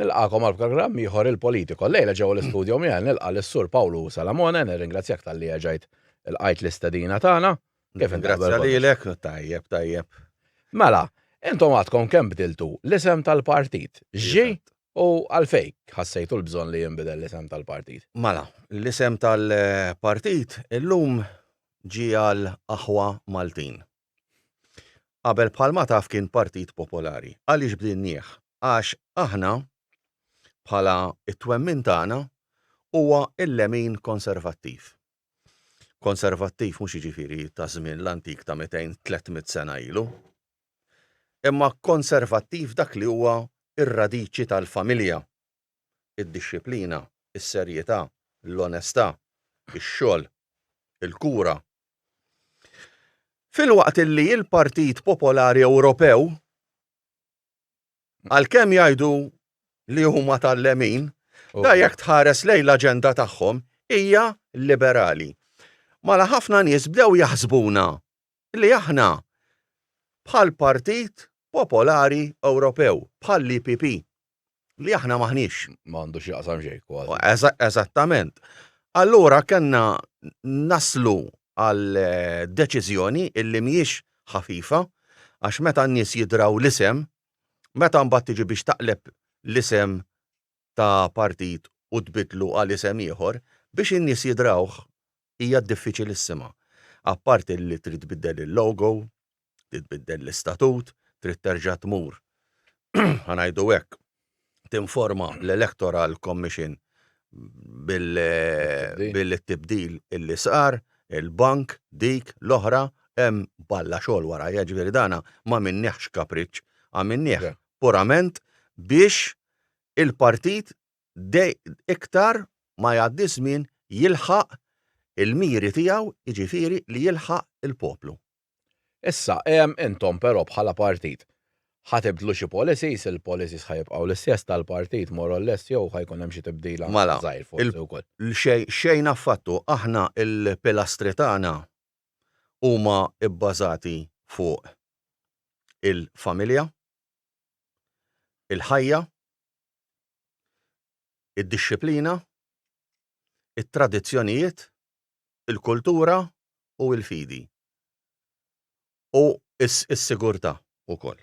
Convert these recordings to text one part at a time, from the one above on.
Nilqagħkom għal programm ieħor il-Politico. Llejla ġewwa l-istudio miegħi nilqa' lis-Sur Pawlu Salamone, nirringrazzjak talli erġajt ilqajt l-istedina tagħna. Kif inti Grazzi lilek, tajjeb, tajjeb. Mela, intom għadkom kemm bdiltu l-isem tal-partit. X'ġie u għalfejn ħassejtu l-bżonn li jinbidel l-isem tal-partit? Mela, l-isem tal-partit illum ġie għal Aħwa Maltin. Qabel bħalma taf kien Partit Popolari. Għaliex bdinnieh? Għax aħna bħala t-twemmin tagħna huwa l-lemin konservattiv. Konservattiv mhux jiġifieri ta' żmien l-antik ta' mitejn, tlett mitt sena ilu. Imma konservattiv dak li huwa r-radiċi tal-familja. id-dixxiplina, is-serjetà, l-onestà, ix-xogħol, il-kura. Filwaqt li l-Partit Popolari Ewropew, għalkemm jgħidu li huma tal-lemin, da jekk tħares lejn l-aġenda tagħhom hija liberali. Mala ħafna nies bdew jaħsbuna li aħna bħall-Partit Popolari Ewropew, bħall-EPP. li aħna maħniex. Ma għandu x'jaqsam xejn kważi. Eżattament. Allura kellna naslu għal eh, deċiżjoni illi mhijiex ħafifa għax meta n-nies jidraw l-isem, meta mbagħad tiġi biex taqleb l-isem ta' partit u tbidlu għal isem ieħor, biex in-nies jidrawh hija diffiċilissima. Apparti li trid tbiddel il-logo, trid tbiddel l-istatut, trid terġa' tmur, ħa ngħidu hekk, tinforma l-Electoral Commission bil-tibdil li sar, il-bank, dik, l-oħra, hemm balla xogħol warajha, jiġifieri dan m'għamilniehx kapriċċ, għamilnieh purament biex il-partit iktar ma jgħaddi ż-żmien jilħaq il-miri tiegħu, jiġifieri li jilħaq il-poplu. Issa, intom però bħala partit, ħa tibdlu xi policies, il-policies ħa jibqgħu l-istess tal-partit more or less jew ħa jkun hemm xi tibdil anke żgħir forsi wkoll? Mela, xejn affattu. Aħna l-pilastri tagħna huma bbażati fuq il-familja, il-ħajja, id-dixxiplina, it-tradizzjonijiet, il-kultura u l-fidi, u s-sigurtà wkoll.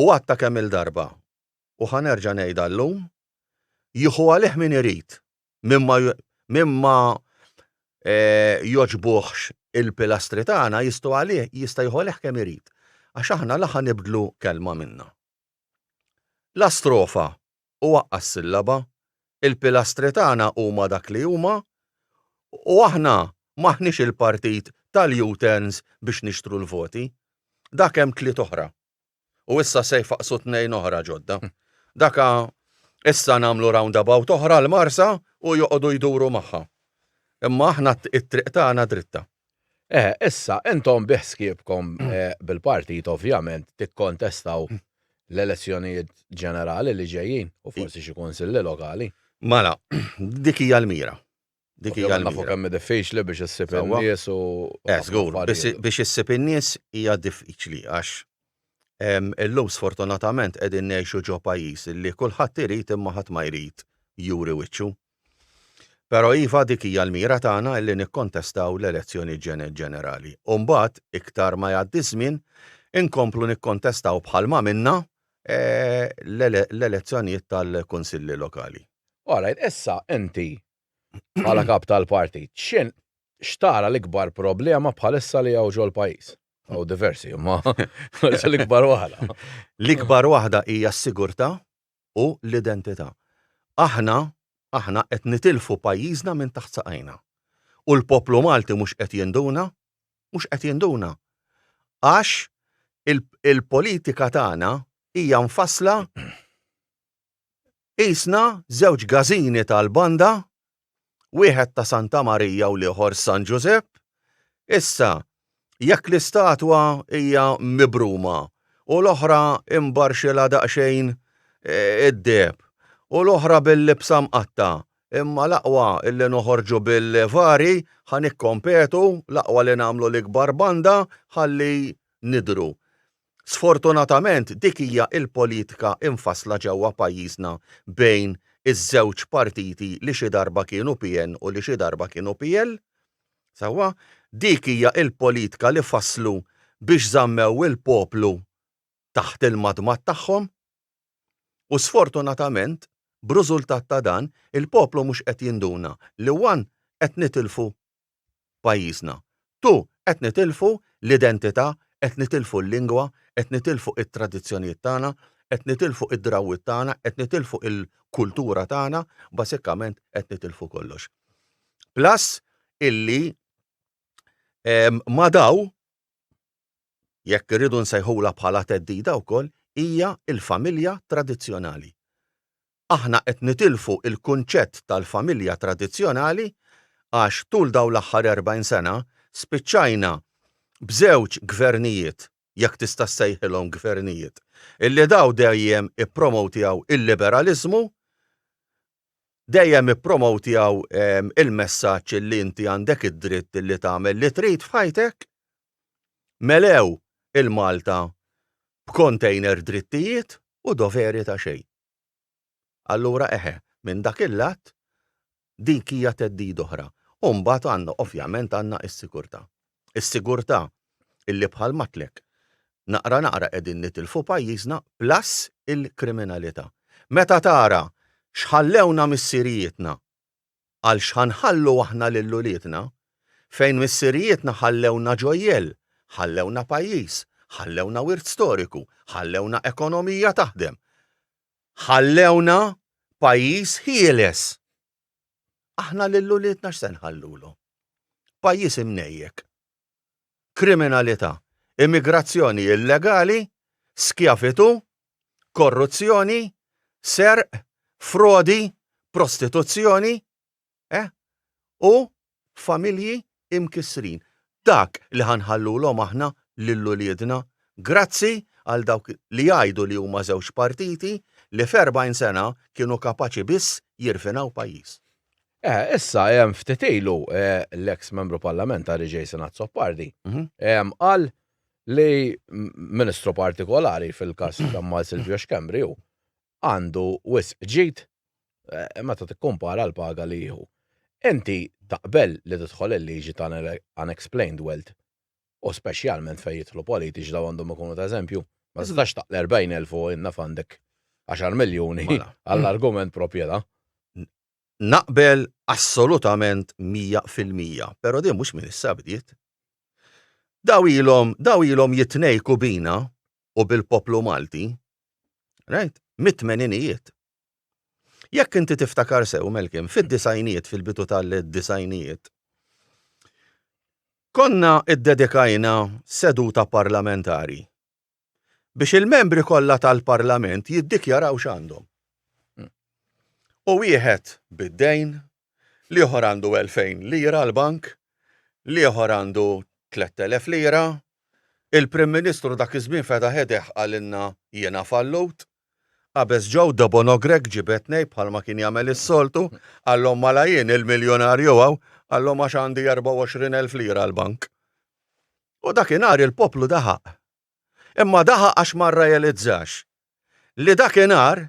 U għadtha kemm-il darba, u ħa nerġa' ngħidha llum, Jieħu għalih min irid, min ma jogħġbuhx il-pilastri tagħna jista' jieħu għalih kemm irid, għax aħna la ħa nibdlu kelma minna. La strofa u waqqa' s-sillaba, il-pilastri tagħna huma dak li huma u aħna m'aħniex il-partit tal-U-turns biex nixtru l-voti. Dak hemm tliet oħra. U issa se jfaqqsu tnejn oħra ġodda. Dak issa nagħmlu roundabout oħra l-Marsa u joqogħdu jduru magħha. Imma aħna t-triq tagħna dritta. Eh, issa, intom biħsibkom eh, bil-partit ovvjament tikkontestaw l-elezzjonijiet ġenerali li ġejjin u forsi xi kunsilli lokali. Mala, dik hija l-mira. Dik hija l-mira. Nafu kemm diffiċli biex issib in-nies u. Eh, żgur, biex issib in-nies hija diffiċli għax illum sfortunatament qegħdin ngħixu ġo pajjiż li kulħadd irid imma ħadd ma jrid juri wiċċu. Però iva dik hija l-mira tagħna illi nikkontestaw l-elezzjoni ġenerali. U mbagħad iktar ma jgħaddi ż-żmien inkomplu nikkontestaw bħal ma minna e, l-elezzjonijiet tal-kunsilli lokali. All right, issa inti bħala kap tal-partit, x'in, x'tara l-ikbar problema bħalissa li hawn ġol-pajjiż? Hawn diversi imma l-ikbar waħda. L-ikbar waħda hija s-sigurtà u l-identità. Aħna, aħna qed nitilfu pajjiżna minn taħt saqajna. U l-poplu Malti mhux qed jinduna, mhux qed jinduna. Għax il-politika tagħna hija mfassla qisna żewġ gażini tal-banda wieħed ta' Santa Marija u l-ieħor San Ġużepp, issa, jekk l-istatwa hija mibruma u l-oħra imbarxilha daqsxejn id-deheb u l-oħra bil-libsa mqatta', imma l-aqwa li noħorġu bil-vari ħa nikkompetu, l-aqwa li nagħmlu l-ikbar banda ħalli nidhru. Sfortunatament dik hija l-politika mfassla ġewwa pajjiżna bejn iż-żewġ partiti li xi darba kienu PN u li xi darba kienu PL. Sewwa? Dik hija l-politka li fasslu biex żammew il-poplu taħt il-madmad tagħhom. U sfortunatament, b'rużultat ta' dan, il-poplu mhux qed jinduna li one qed nitilfu pajjiżna. Tu, qed nitilfu l-identità, qed nitilfu l-lingwa, qed nitilfu it-tradizzjonijiet tagħna, qed nitilfu d-drawwiet tagħna, qed nitilfu l-kultura tagħna, basikament qed nitilfu kollox. Plus illi ma' daw, jekk irridu nsejħulha bħala theddida wkoll, hija l-familja tradizzjonali. aħna qed nitilfu l-kunċett tal-familja tradizzjonali għax tul dawn l-aħħar 40 sena spiċċajna b'żewġ gvernijiet, jekk tista' ssejħilhom gvernijiet, illi dawn dejjem ippromowtjaw il-liberaliżmu, dejjem ippromowtjaw il-messaġġ illi inti għandek id-dritt illi tagħmel li trid f'ħajtek. Melew il-Malta b'kontejner drittijiet u doveri ta' xejn. Allura eħe, minn dak il-lat, dik hija theddida oħra. U mbagħad għandna, ovvjament għandna s-sigurtà. Is-sigurtà illi bħal m'għedtlek, naqra naqra qegħdin nitilfu pajjiżna plus il-kriminalità. Meta tara x'ħallewna missirijietna għal x'ħanħallu aħna lil uliedna, fejn missirijietna ħallewna ġojjell, ħallewna pajjiż, ħallewna wirt storiku, ħallewna ekonomija taħdem, ħallewna pajjiż ħieles. Aħna lil uliedna x'se nħallulhom? Pajjiż imnejjek. kriminalità, immigrazzjoni illegali, skjavitù, korruzzjoni, serq, frodi, prostituzzjoni, eh, u familji imkissrin. Dak li ħa nħallulhom aħna lil uliedna. Grazzi għal dawk li jgħidu li huma żewġ partiti li f'erbgħin sena kienu kapaċi biss jirfinaw pajjiż. Issa, ftit ilu, l-eks Membru Parlamentari Jason Azzopardi qal li Ministru partikolari, fil-każ ta' Mal Silvio Schembri, hu għandu wisq ġid meta tikkumpara l-paga li jieħu. Inti taqbel li tidħol il-liġi ta' l-unexplained wealth u speċjalment fejn jidħlu politiċi dawn għandhom ikunu ta' eżempju? Ma tistax taqla' 40,000 u naf għandek għaxar miljuni għall-argument propjeta'. Naqbel assolutament mija fil-mija, pero din mhux minn issa bdiet. Daw ilhom, daw ilhom jitnejku bina u bil-poplu Malti, right, mit-tmeninijiet. Jekk inti tiftakar sew, Malcolm, fid-disgħinijiet, fil-bidu tal-disgħinijiet, konna iddedikajna seduta parlamentari biex il-membri kollha tal-Parlament jiddikjaraw x'għandhom. U wieħed bid-dejn, l-ieħor għandu 2,000 lira l-bank, l-ieħor għandu 3,000 lira, il-Prim Ministru dak iż-żmien fetaħ idejh qalilna jiena fallut, Qabeż Joe Debono Grech ġibedtnej bħalma kien jagħmel is-soltu, qalhom mala jien il-miljunarju hawn, qalhom għax għandi erbgħa u għoxrin elf lira l-bank. U dakinhar il-poplu daħaq. Imma daħaq għax ma rrealizzax li dakinhar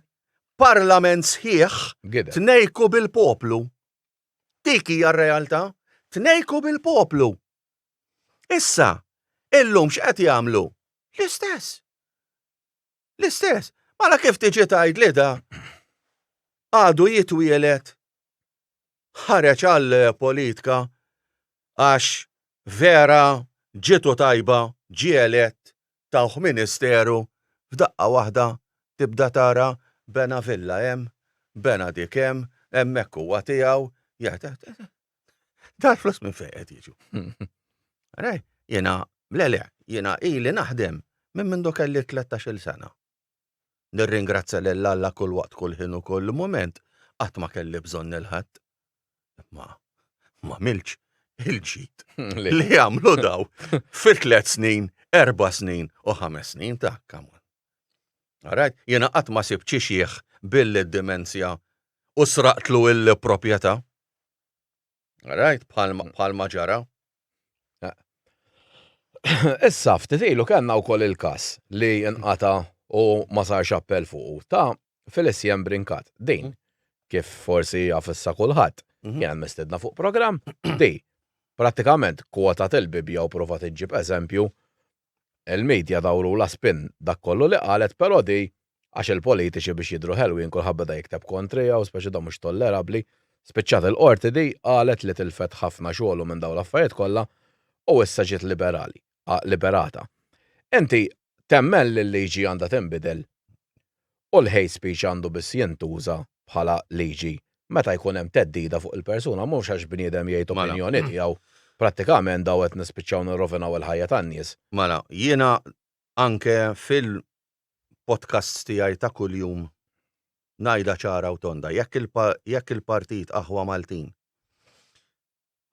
parlament sħiħ tnejku bil-poplu. Dik hija r-realtà, tnejku bil-poplu. Issa, illum x'qed jagħmlu? L-istess. L-istess, mara kif tiġi tgħid li da għadu jitwielet ħareġ għal politika għax vera ġitu tajba ġie elett tawh ministeru f'daqqa waħda tibda tara bena villa hemm, bena dik hemm, hemmhekk huwa tiegħu, Dar flus minn fejn qed jiġu. Rej, jiena, le le, jiena ili naħdem minn mindu kelli 13-il sena. Nirringrazzja lil Alla kull waqt kull ħin u kull mument qatt ma kelli bżonn il-ħadd. Ma ma milx il-ġid li jagħmlu daw fi tliet snin, erba' snin u ħames snin ta' kamon. Rajt, jiena qatt ma sib ċixieħ billi d-dimensja u sraqtlu il-proprjetà. Rajt bħalma ġara. Issa ftit ilu kellna wkoll il-każ li nqata' u ma sarx appell fuqu ta' Felicien Brincat. Din, kif forsi jaf issa kulħadd, kienet mistiedna fuq programm li prattikament kwotat il-Bibbja u provat iġġib eżempju Il-media dawrulha spin dak kollu li qalet però di għax il-politiċi biex jidhru ħelwin kulħadd beda jikteb kontriha u speċi dan mhux tollerabbli. Spiċċat il-Qorti di qalet li tilfet ħafna xogħlu minn dawn l-affarijiet kollha u issa ġiet liberali, liberata. Inti temmen li l-liġi għandha tinbidel? u l-hate speech għandu biss jintuża bħala liġi meta jkun hemm theddida fuq il-persuna mhux għax bniedem jgħid opinjoni tiegħu. Prattikament daw qed nispiċċaw nirrovinaw il-ħajja tan-nies. Mela, jiena anke fil-podcasts tiegħi ta' kuljum ngħidha ċara u tonda, jekk il-partit Aħwa Maltin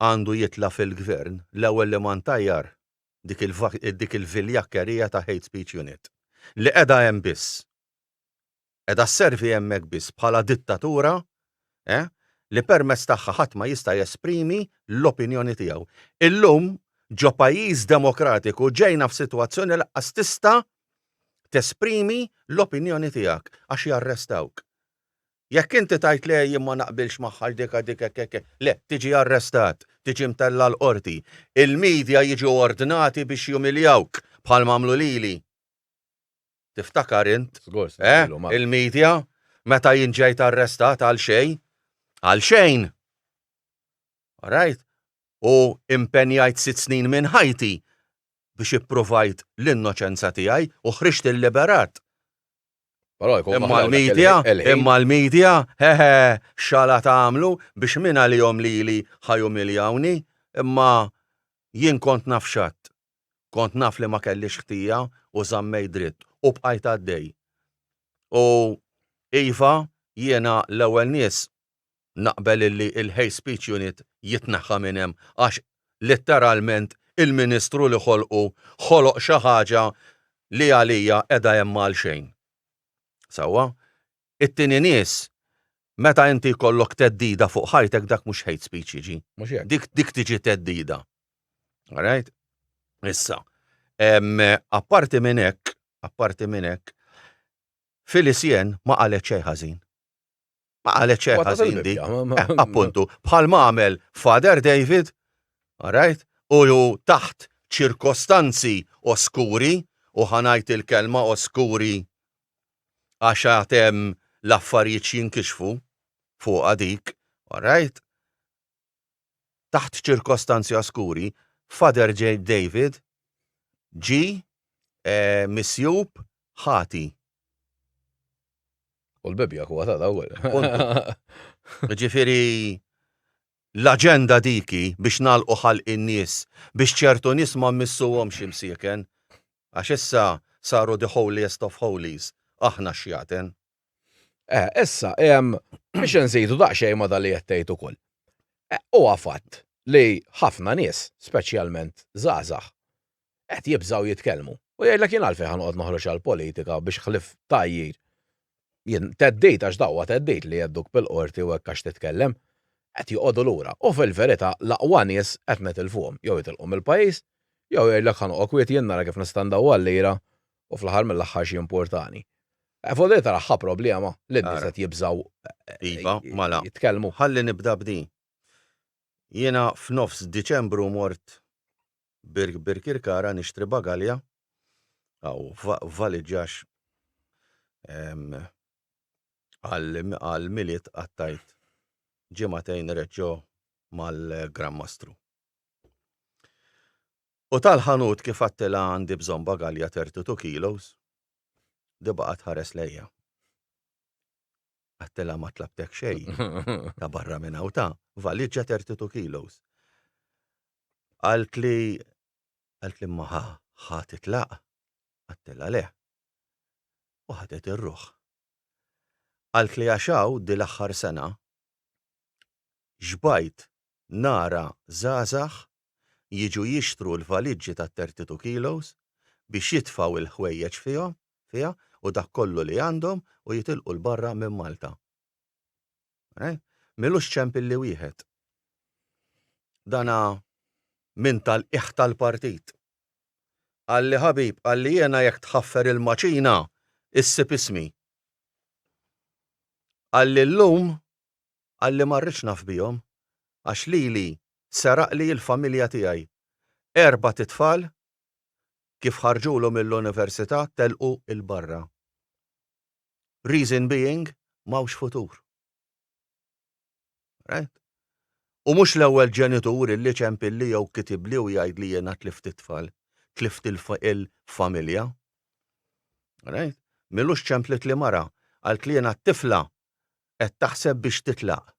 għandu jitla' fil-gvern, l-ewwel li ma ntajjar dik il-viljakkerija ta' Hate Speech Unit li qiegħda hemm biss, qiegħda sservi hemmhekk biss bħala dittatura li permezz tagħha ħadd ma jista' jesprimi l-opinjoni tiegħu. Illum ġo pajjiż demokratiku ġejna f'sitwazzjoni li lanqas tista' tesprimi l-opinjoni tiegħek għax jarrestawk. Jekk inti tgħid le jien ma naqbilx magħha għal dik għal dik hekk hekk, le, tiġi arrestat, tiġi mtella' l-Qorti. Il-media jiġu ordnati biex jumiljawk bħalma għamlu lili. Tiftakar int? Żgur se nagħmlu magħha. Il-media meta jien ġejt arrestat għal xejn. Għal xejn! All right? U impenjajt sitt snin minn ħajti biex ippruvajt l-innoċenza tiegħi u ħriġt illiberat. Imma l-media, imma l-media, hehe, x'għala tagħmlu biex min għalihom lili ħa jumiljawni, imma jien kont naf x'għadt. Kont naf li ma kellix ħtija u żammejt dritt u bqajt għaddej. U iva, jiena l-ewwel nies naqbel illi l-hate speech unit jitneħħa minn hemm għax litteralment il-Ministru li ħolqu ħoloq xi ħaġa li għalija qiegħda hemm għalxejn. Sewwa? It-tieni nies meta inti jkollok theddida fuq ħajtek dak mhux hate speech jiġi. Mhux hekk. Dik dik tiġi theddida. All right? Issa, apparti minn hekk, apparti minn hekk, Phyllis Jen ma qalet xejn ħażin. Ma qalet xejn Waqqas ħażin di. il-Bibbja, ma- ma- Eh, Appuntu, bħal ma għamel Father David, alright, u ju taħt ċirkostanzi oskuri, u ħa ngħid il-kelma oskuri għax għad hemm l-affarijiet x'jinkixfu fuqha dik, alright, taħt ċirkostanzi oskuri, Father J. David ġie misjub ħati. U l-Bibbja huwa ta' l-ewwel. Ġifieri l-aġenda diki biex nagħlqu ħalq in-nies, biex ċertu nies ma mmissuhomx imsieken, għax issa saru the holiest of holies, aħna x-xjaten. Eh, issa, ehm, biex nżidu daqsxejn ma' li qed tgħid ukoll. Eh, huwa fatt li ħafna nies, speċjalment żgħażagħ, qed jibżgħu jitkellmu. U jgħidlek jien għalfejn ħa noqgħod noħroġ għall-politika biex ħlief tgħajjir. Jien teddit għax dawwa teddit li jedduk bil-qorti u hekk għax titkellem. Qed joqogħdu lura u fil-verità l-aqwa nies qed nitilfuhom jew jitilqu mill-pajjiż jew jgħidlek ħa noqgħod kwiet jien nara kif nista' ndawwal lira u fl-aħħar mill-aħħar xi importani. Eh, Fodri tara ħa problema li n-nies qed jibżgħu eh, iva, mala. jitkellmu. Ħalli nibda b'di. Jiena f'nofs Diċembru mort Birk Birkirkara nixtri bagalja għaw valiġġax għal miliet għattajt ġimatejn reġġo mal-Gran Mastru. U tal-ħanut kif għadtilha għandi bżonn bagalja thirty two kilos, di baqgħet tħares lejja. Għadtilha ma tlabtek xejn ta' barra minn hawn ta' valiġġa thirty two kilos. Qaltli qaltli imma ħa ħa titlaq? Għadtilha le. U ħadet ir-ruħ. Qaltli għax hawn di l-aħħar sena xbajt nara żgħażagħ jiġu jixtru l-valiġġi ta' thirty two kilos biex jitfgħu l-ħwejjeġ fihom, fiha, u dak kollu li għandhom u jitilqu 'l barra minn Malta. Eh? M'ilux ċemp illi wieħed. Dana minn tal-qiegħ tal-partit. Qalli ħabib, qalli jiena jekk tħaffer il-maċina issib ismi. Qalli llum qalli ma rridx naf bihom għax lili seraqli il-familja tiegħi. Erbat itfal kif ħarġulu mill-università telqu il barra. Reason being m'hawnx futur. Right? U mhux l-ewwel ġenitur illi ċempilli jew kitibli u jgħidli jiena tlift it-tfal, tlift il-familja. Right? Milux ċemplit li mara, qaltli jiena t-tifla Qed taħseb biex titlaq.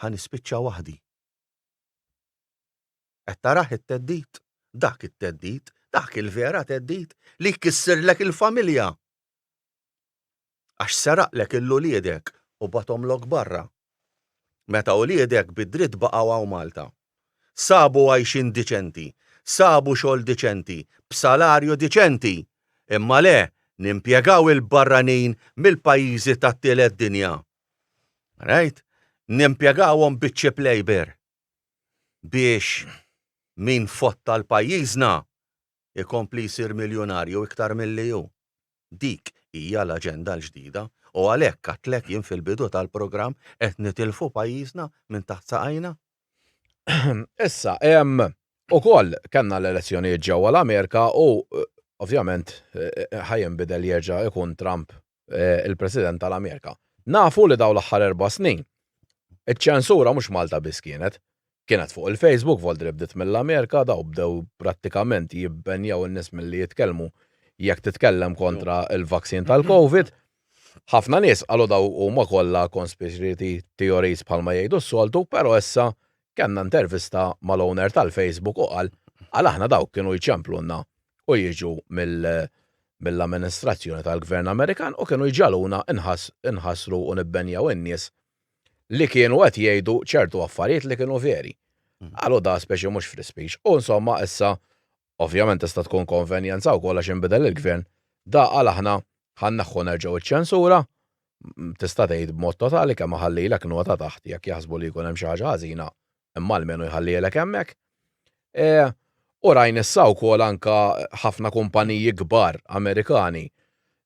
Ħa nispiċċa waħdi. Qed tarah it-theddid? Dak it-theddid, dak il-vera theddid li jkissirlek il-familja! Għax seraqlek 'il uliedek u bathomlok barra. Meta uliedek bid-dritt baqgħu hawn Malta. Sabu għajxien diċenti, sabu xogħol diċenti, b'salarju diċenti! Imma le, nimpjegaw il-barranin mill-pajjiżi tat-tielet dinja. Right? Nimpjegawhom biċ-cheap labour. Biex min fotta 'l pajjiżna ikompli jsir miljunarju iktar milli hu. Dik hija l-aġenda l-ġdida u għalhekk għedtlek jien fil-bidu tal-programm qed nitilfu pajjiżna minn taħt saqajna. Issa, ukoll kellna l-elezzjonijiet ġewwa l-Amerika u ovvjament ħa jinbidel jerġa' jkun Trump il-President tal-Amerika. Nafu li dawn l-aħħar erba' snin iċ-ċensura mhux Malta biss kienet. Kienet fuq il-Facebook, Voldri bdiet mill-Amerika, daw bdew prattikament jibbenjaw in-nies milli jitkellmu jekk titkellem kontra l-vaccine tal-Covid. Ħafna nies qalu daw huma kollha conspiracy theories bħalma jgħidu s-soltu, però issa kellna intervista mal-owner tal-Facebook u qal għal aħna dawk kienu jċemplulna u jiġu mill-amministrazzjoni tal-Gvern Amerikan u kienu jġagħluna nħassru u nibbenjaw in-nies li kienu qed jgħidu ċertu affarijiet li kienu veri. Qalu da speċi mhux free speech. U insomma issa Ovvjament tista' tkun konvenjenza wkoll għax inbidel il-Gvern, da għala aħna ħa nneħħu nerġgħu ċ-ċensura, tista' tgħid b'mod totali kemm iħallilek nota taħt jekk jaħsbu li jkun hemm xi ħaġa ħażina imma almenu jħallielek hemmhekk. U rajna issa wkoll anke ħafna kumpaniji kbar Amerikani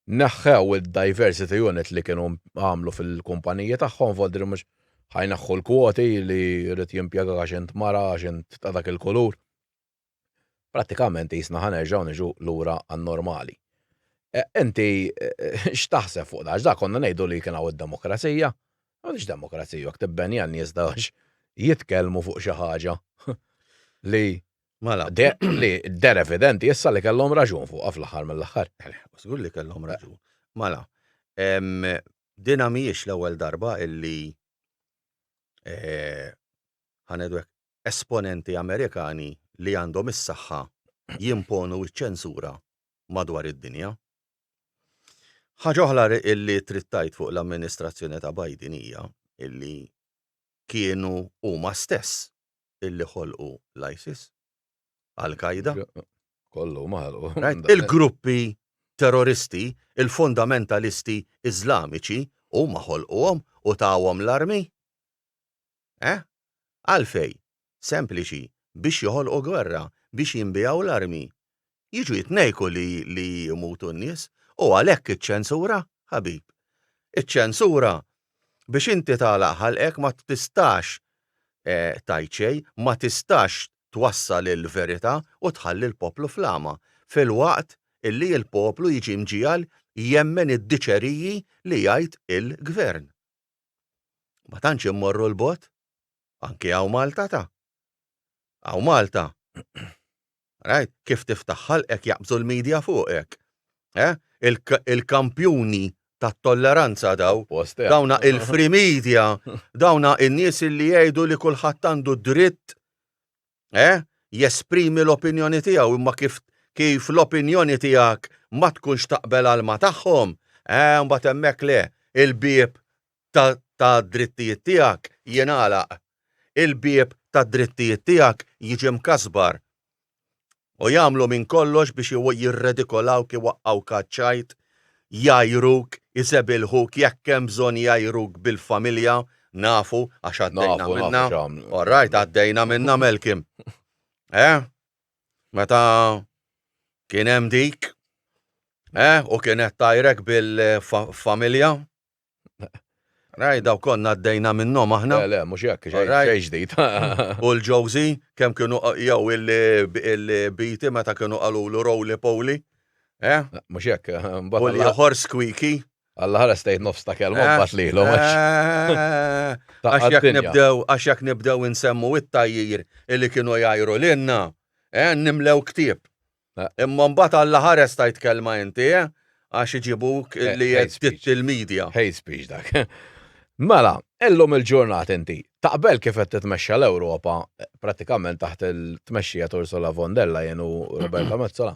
neħħew id-diversity unit li kienu għamlu fil-kumpaniji tagħhom vot li mhux ħa jneħħu l-kwoti li jrid jimpjegak għax int mara, għax int ta' dak il-kulur. Prattikament qisna ħa nerġgħu niġu lura għan-normali. Inti x'taħseb fuq dan? X'dak konna ngħidu li kien hawn id-demokrazija? M'għandix demokrazija jekk tibbenja n-nies għax jitkellmu fuq xi ħaġa li Mela. Li der evidenti issa li kellhom raġun fuqha fl-aħħar mill-aħħar. Żgur li kellhom raġun. Mela, dina mhijiex l-ewwel darba illi ħanedu esponenti Amerikani li għandhom is-saħħa jimponu ċ-ċensura madwar id-dinja. Ħaġa oħra li trid tgħid fuq l-amministrazzjoni ta' Biden hija li kienu huma stess illi ħolqu l-ISIS, Al-Qaeda. Kollu maħalqu. Il-gruppi terroristi, il-fundamentalisti Iżlamiċi huma ħolquhom u tawhom l-armi. Eh? Għalfejn? Sempliċi, biex joħolqu gwerra, biex jinbiegħu l-armi. Jiġu jitnejku li li jmutu n-nies. U għalhekk iċ-ċensura, ħabib. Iċ-ċensura biex inti tagħlaq ħalqek ma tistax tgħid xejn, ma tistax twassal il-verità u tħalli l-poplu fl-għama, filwaqt li l-poplu jiġi mġiegħel jemmen id-diċeriji li jgħid il-gvern. Ma tantx immorru 'l bogħod. Anki hawn Malta ta. Hawn Malta. Rajt kif tiftaħ ħalqek jaqbżu l-media fuqek. Eh? Il-kampjuni tat-tolleranza dawn. Dawna il-free media, dawna n-nies li jgħidu li kulħadd għandu d-dritt eh, jesprimi l-opinjoni tiegħu imma kif kif l-opinjoni tiegħek ma tkunx taqbel għal ma tagħhom, eh mbagħad hemmhekk le, il-bieb tad-drittijiet tiegħek jingħalaq. Il-bieb tad-drittijiet tiegħek jiġi mkasbar. u jagħmlu minn kollox biex jirredikolawk, iwaqqgħuk għaċ-ċajt, jgħajruk, isebilħuk, jekk hemm bżonn jgħajruk bil-familja, nafu għax għaddejna minnha. All right, għaddejna minnha Melkim. Eh? Meta kien hemm dik, eh, u kienet tajrek bil-familja, Rajt daw konna għaddejna minnhom aħna. Le, le, mhux hekk, xejn ġdid. U l-Ġowżi, kemm kienu jew il-Biti meta kienu qalulu Rowli Powli. Eh? Mhux hekk. U l-ieħor Squeaky. Alla ħares tgħid nofs ta' kelma eh? mbagħad lilu. Eh? Għax jekk nibdew, għax jekk nibdew insemmu it-tajjir illi kienu jgħajru lilna, eh, nimlew ktieb. Imma mbagħad Alla ħares tajt kelma inti, eh? Għax iġibuk li jgħid il-media. Hate speech dak. Mela, illum il-ġurnat inti, taqbel kif qed titmexxa l-Ewropa prattikament taħt il-tmexxija ta' Ursula von der Leyen u Roberta Mezzola?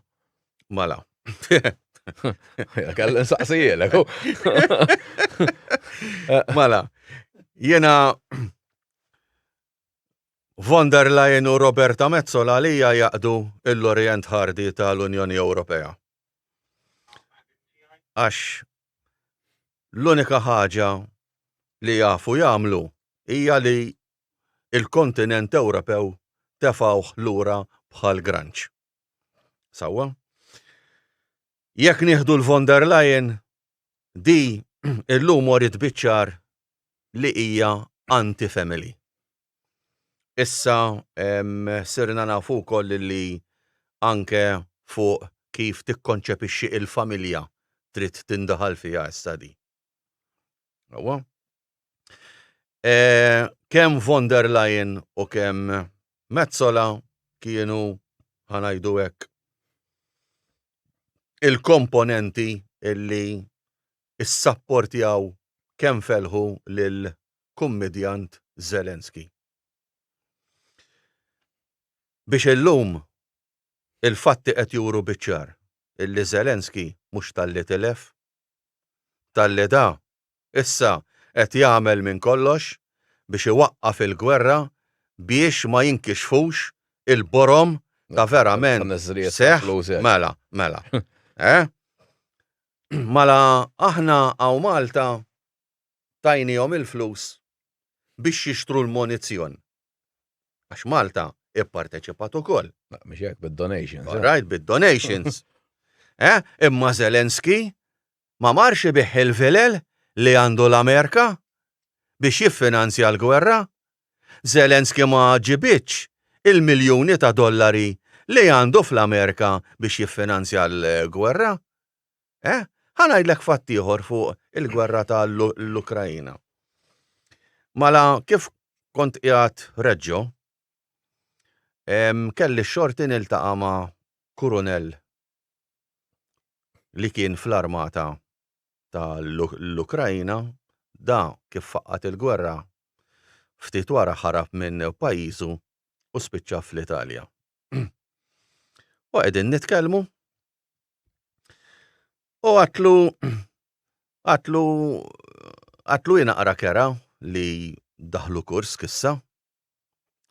Mela. Kelli nsaqsijilek. Mela, jiena Von der Leyen u Roberta Metsola li hija jaqdu l-Orient Ħardi ta' l-Unjoni Ewropea. Għax l-unika ħaġa li jafu jagħmlu hija li l-kontinent Ewropew tefgħuh lura bħal granċ. Sewwa? Jekk nieħdu l-Von der Leyen, di illum wriet biċ-ċar li hija anti-family. Issa sirna nafu wkoll li anke fuq kif tikkonċepixxi il-familja trid tindaħal fiha issa di. Sewwa? Kemm von der Leyen u kemm Metsola kienu, ħa ngħidu hekk, il-komponenti li issapportjaw kemm fellħu lil kummidjant Zelensky. Biex illum il-fatti qed juru biċ-ċar illi Zelensky mhux talli tilef, talli da issa qed jagħmel minn kollox biex iwaqqaf il-gwerra biex ma jinkixfux il-borom ta' verament seħħ, mela, mela, eh? Mala aħna hawn Malta tajniehom il-flus biex jixtru l-munizzjon. Għax Malta ipparteċipat ukoll. Mhux hekk, bid-donations. All right, bid-donations. Eh, imma Zelensky ma marx ibigħ il-vilel li għandu l-Amerika biex jiffinanzja l-gwerra Zelensky ma ġibidx il-miljuni ta' dollari li għandu fl-Amerika biex jiffinanzja l-gwerra. Eh, ħa ngħidlek fatt ieħor fuq il-gwerra ta' l-Ukraina. Mala kif kont qiegħed Reggio, kelli x-xorti niltaqa' ma' kurunell li kien fl-armata ta' l-Ukraina, da kif faqqgħet il-gwerra ftit wara ħarab minn pajjiżu u spiċċa fl-Italja. U qegħdin nitkellmu u għatlu għatlu għatlu hi naqra kerha li daħlu Kursk issa.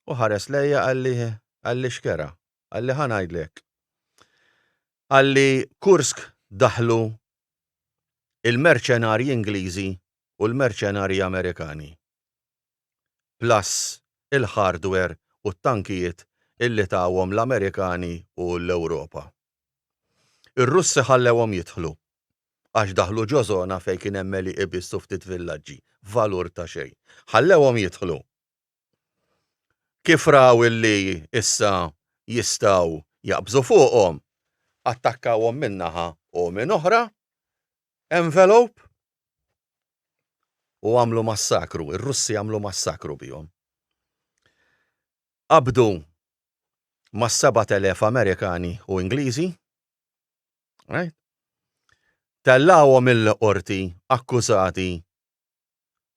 U ħares lejja qalli qalli x'kerha? Qalli ħa ngħidlek. Qalli Kursk daħlu il-merċenarji Ingliżi u l-merċenarji Amerikani, plus il-hardware u t-tankijiet illi tawhom l-Amerikani u l-Ewropa. Ir-Russi ħallewhom jidħlu, għax daħlu ġo żona fejn kien hemm għelieqi biss u ftit villaġġi, valur ta' xejn. Ħallewhom jidħlu. Kif raw illi issa jistgħu jaqbżu fuqhom, attakkawhom minn naħa u minn oħra, envelope, u għamlu massakru, ir-Russi għamlu massakru bihom. Qabdu mas-sebat elef Amerikani u Ingliżi, right? Tellgħuhom il-Qorti akkużati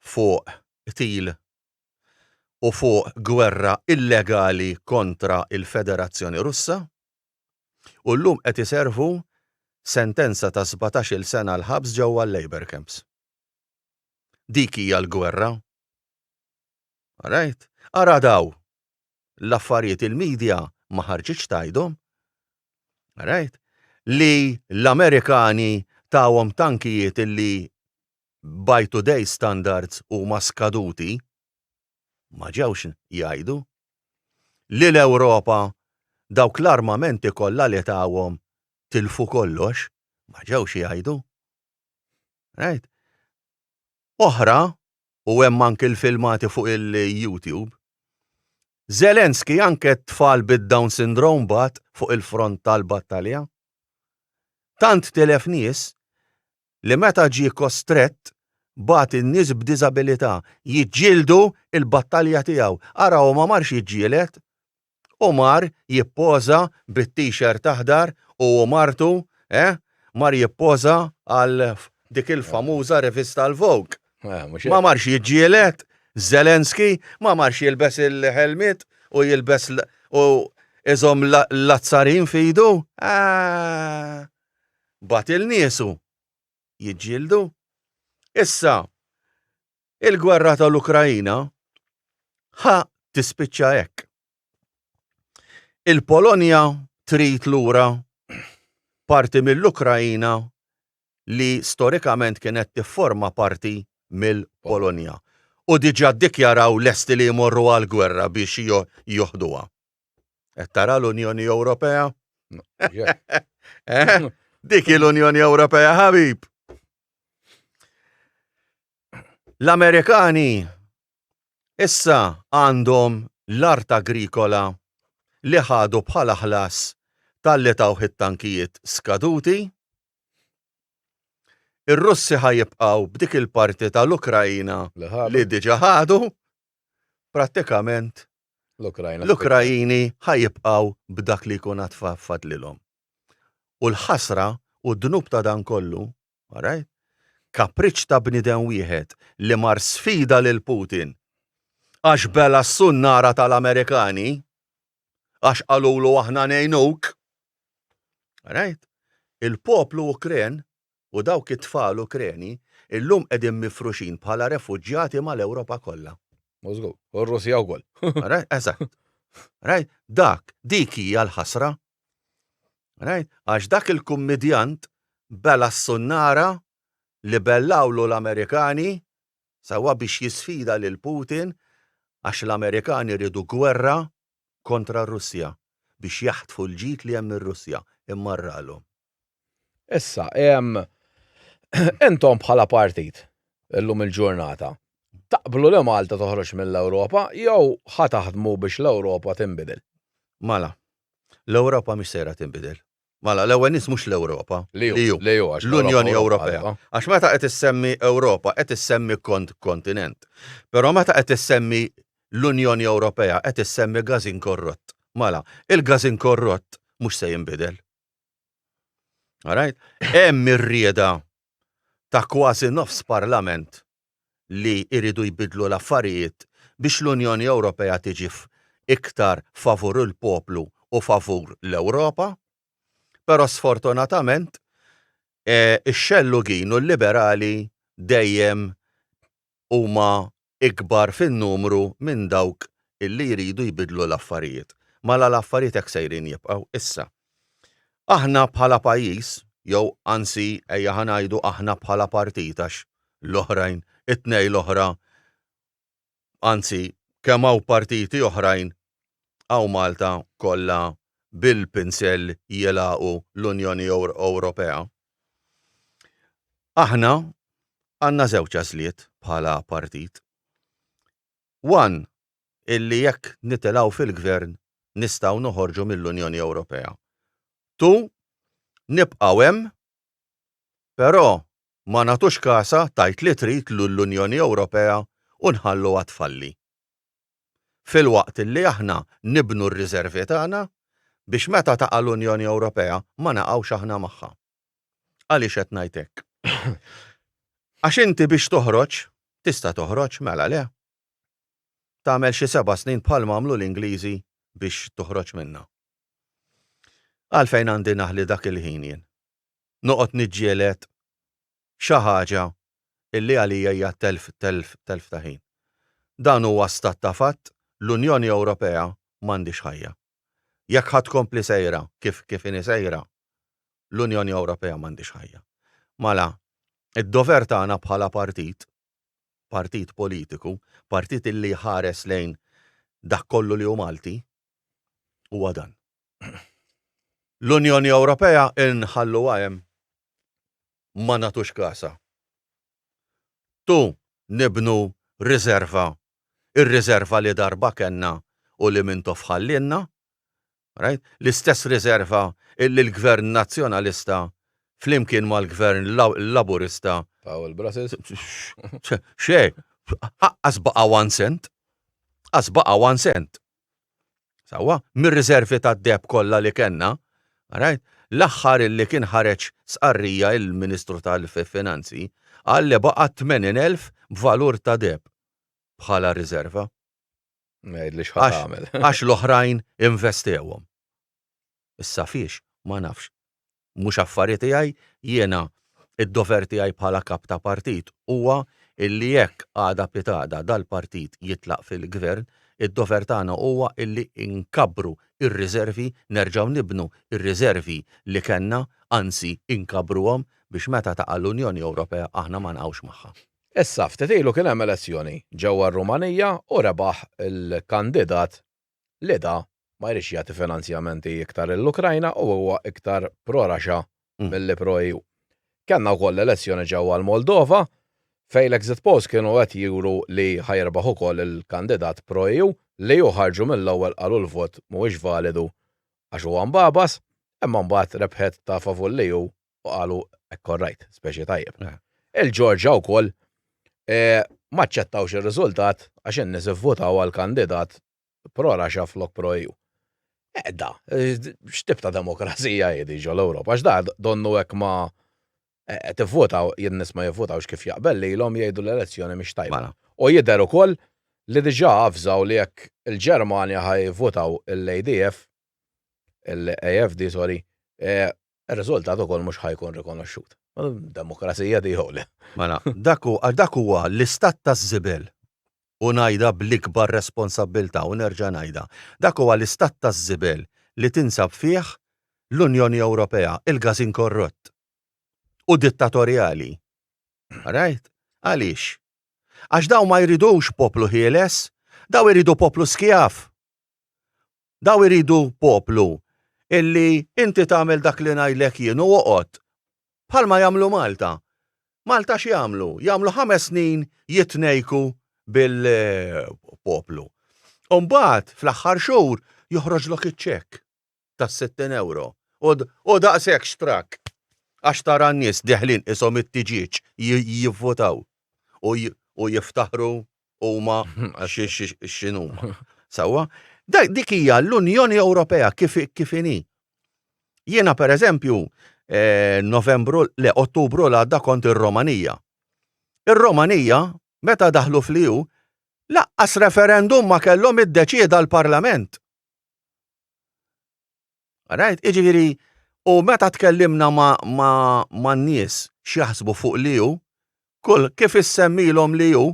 fuq qtil u fuq gwerra illegali kontra l-Federazzjoni Russa u llum qed iservu sentenza ta' sbatax-il sena l-ħabs ġewwa l-labour camps. Dik hija l-gwerra. Alright? Ara daw l-affarijiet il-media ma ħarġitx tgħidhom. Alright? Li l-Amerikani tawhom tankijiet li by today's standards huma skaduti, ma ġewx jgħidu li l-Ewropa dawk l-armamenti kollha li tawhom tilfu kollox, ma ġewx jgħidu. Right? Oħra, u hemm anki l-filmati fuq il-YouTube, Zelensky anke t-tfal bid-Down Syndrome bagħat fuq il-front tal-battalja. Tant tilef nies li meta ġie kostrett bagħat in-nies b'diżabilità jiġġieldu l-battalja tiegħu. Ara hu ma marx jiġġieled, hu mar jippoża bit-t-shirt aħdar hu u martu, eh, mar jippoża għal dik il-famuża rivista l-Vogue. Ma marx jiġġieled, Zelensky ma marx jilbes il-ħelmiet u jilbes u iżomm l-azzarin f'idu, ah! bagħat lil niesu jiġġieldu. Issa, il-gwerra tal-Ukraina ħa tispiċċa hekk. Il-Polonja trid lura parti mill-Ukraina li storikament kienet tifforma parti mill-Polonja u diġà ddikjaraw lesti li jmorru għall-gwerra biex joħduha. Qed tara l-Unjoni Ewropea? Eh? Dik l-Unjoni Ewropea ħabib. L-Amerikani issa għandhom l-art agrikola li ħadu bħala ħlas talli tawh it-tankijiet skaduti. Ir-Russi ħajibqgħu b'dik il-parti tal-Ukraina li diġà ħadu prattikament l-Ukraini ħa jibqgħu b'dak li jkun għad fadlilhom. U l-ħasra u d-dnub ta' dan kollu, all right, kapriċċ ta' bniedem wieħed li mar sfida lil Putin għax bela' s-sunnara tal-Amerikani għax qalulu aħna ngħinuk, all right, il-poplu Ukren u dawk it-tfal Ukreni illum qegħdin mifruxin bħala refuġjati mal-Ewropa kollha. Mażgur. U r-Russja wkoll. Right? Eżatt. Right? Dak, dik hija l-ħasra. Right? Għax dak il-kummidjant bela s-sunnara li bellawlu l-Amerikani sewwa biex jisfida lil Putin għax l-Amerikani riedu gwerra kontra r-Russja biex jaħtfu l-ġid li hemm mir-Russja immarralhom. Issa, intom bħala partit illum il-ġurnata taqblu li Malta toħroġ mill-Ewropa jew ħa taħdmu biex l-Ewropa tinbidel? Mela, l-Ewropa mhix sejra tinbidel. Mela, l-ewwel nies mhux l-Ewropa, li hu, l-Unjoni Ewropea. Għax meta qed issemmi Ewropa qed issemmi kont kontinent. Però meta qed issemmi l-Unjoni Ewropea qed issemmi gażin korrott. Mela, il-gażin korrott mhux se jinbidel. All right? Hemm ir-rieda ta' kważi nofs Parlament li jridu jbiddlu l-affarijiet biex l-Unjoni Ewropea tiġi iktar favur il-poplu u favur l-Ewropa, però sfortunatament ix-xellugin u l-liberali dejjem huma ikbar fin-numru minn dawk li jridu jbiddlu l-affarijiet. Mela l-affarijiet hekk sejrin jibqgħu issa. Aħna bħala pajjiż, jew anzi ejja ħa ngħidu aħna bħala partit għax l-oħrajn it-tnejn l-oħra anzi kemm hawn partiti oħrajn hawn Malta kollha bil-pinsell jilgħaqu l-Unjoni Ewropea. Aħna għandna żewġ għażliet bħala partit. One, illi jekk nitilgħu fil-gvern nistgħu noħorġu mill-Unjoni Ewropea. Tu, nibqgħu hemm, però ma nagħtux kasha tgħid li trid lill-Unjoni Ewropea u nħalluha tfalli. Filwaqt illi aħna nibnu r-riżervi tagħna biex meta taqa' l-Unjoni Ewropea ma naqgħux aħna magħha. Għaliex qed ngħid hekk? Għax inti biex toħroġ, tista' toħroġ, mela le? tagħmel xi seba' snin bħalma għamlu l-Ingliżi biex toħroġ minnha. Għalfejn għandi naħli dak il-ħin jien? Noqgħod niġġieled xi ħaġa illi għalija hija telf, telf, telf ta' ħin. Dan huwa stat ta' fatt, l-Unjoni Ewropea m'għandhiex ħajja. Jekk ħa tkompli sejra kif, kif inhi sejra, l-Unjoni Ewropea m'għandhiex ħajja. Mela, id-dover tagħna bħala partit partit politiku, partit illi jħares lejn dak kollu li hu Malti, huwa dan. L-Unjoni Ewropea inħalluha hemm ma nagħtux kasha. Tu nibnu riserva, ir-riserva li darba kellna u li minn toff ħallielna, l-istess riżerva li l-Gvern Nazzjonalista flimkien mal-Gvern Laburista xejn, qaqqas baqa' one cent, qaqqas baqa' one cent, sewwa, mir-riżervi tad-deheb kollha li kellna, l-aħħar illi kien ħareġ stqarrija l-Ministru tal-Finanzi qal li baqa' 80,000 b'valur ta' deheb bħala riżerva. Għax l-oħrajn investewhom. Issa fiex, ma nafx. Mhux affari tiegħi, jiena d-dover tiegħi bħala Kap ta' Partit huwa illi jekk għada pitgħada dal-Partit jitlaq fil-Gvern, id-dover tagħna huwa illi nkabbru r-riservi, nerġgħu nibnu r-riservi li kellna, anzi inkabbruhom biex meta taqa' l-Unjoni Ewropea aħna ma nqgħux magħha. Issa, ftit ilu kien hemm elezzjoni ġewwa r-Rumanija u rebaħ il-kandidat li da ma jridx jagħti finanzjamenti iktar lill-Ukrajna u huwa iktar pro-Russia milli pro-EU. Kellna wkoll elezzjoni ġewwa l-Moldova fejn l-exit polls kienu qed juru li ħa jirbaħ ukoll il-kandidat pro-EU li hu ħarġu mill-ewwel qalu l-vot mhuwiex validu għax huwa mbagħbas imma mbagħad rebħet ta' favur l-EU u qalu hekk korrajt, speċi tajjeb. Eh. Il-Ġorġa wkoll eh, ma ċċettawx ir-riżultat għax in-nies ivvutaw għal kandidat pro Raxa flok pro EU. Edda, eh, x'tib ta' demokrazija jedi ġol Ewropa, għax da donnu hekk ma tivvutaw jien nies ma jivvutawx kif jaqbel li l-om jgħidu l-elezzjoni mhix tajba. Mela. U jidher ukoll li diġà avżaw li jekk il-Ġermanja ħajvutaw l-ADF, l-AFD, sorry, Ir-riżultat ukoll mhux ħa jkun rikonoxxut. Demokrazija di jew le? Mela, dak hu, għax dak huwa l-istat taż-żibel. U ngħidha bl-ikbar responsabbiltà u nerġa' ngħidha. Dak huwa l-istat taż-żibel li tinsab fih l-Unjoni Ewropea, il-każin korrott. U dittatorjali. All right? Għaliex? Għax dawn ma jridux poplu ħieles. Dawn iridu poplu skjav. Dawn iridu poplu illi inti tagħmel dak li ngħidlek jien u oqgħod. Bħalma jagħmlu Malta. Malta x'jagħmlu? Jagħmlu ħames snin jitnejku bil-poplu. U mbagħad fl-aħħar xhur joħroġlok iċ-ċekk tas-sittin ewro u daqshekk xtrakk għax tara n-nies deħlin qishom it-tiġieġ jivvutaw u jiftaħru huma x'inhuma. Sewwa? Dik hija l-Unjoni Ewropea kif kif inhi. Jiena pereżempju eh, Novembru le Ottubru l għadda kont ir-Romanija. Ir-Romanija meta daħlu fl-EU laqqas referendum ma kellhom iddeċieda l-Parlament. Rajt, iġifieri, u meta tkellimna man-nies x'jaħsbu fuq li hu, kull kif issemmilhom li hu,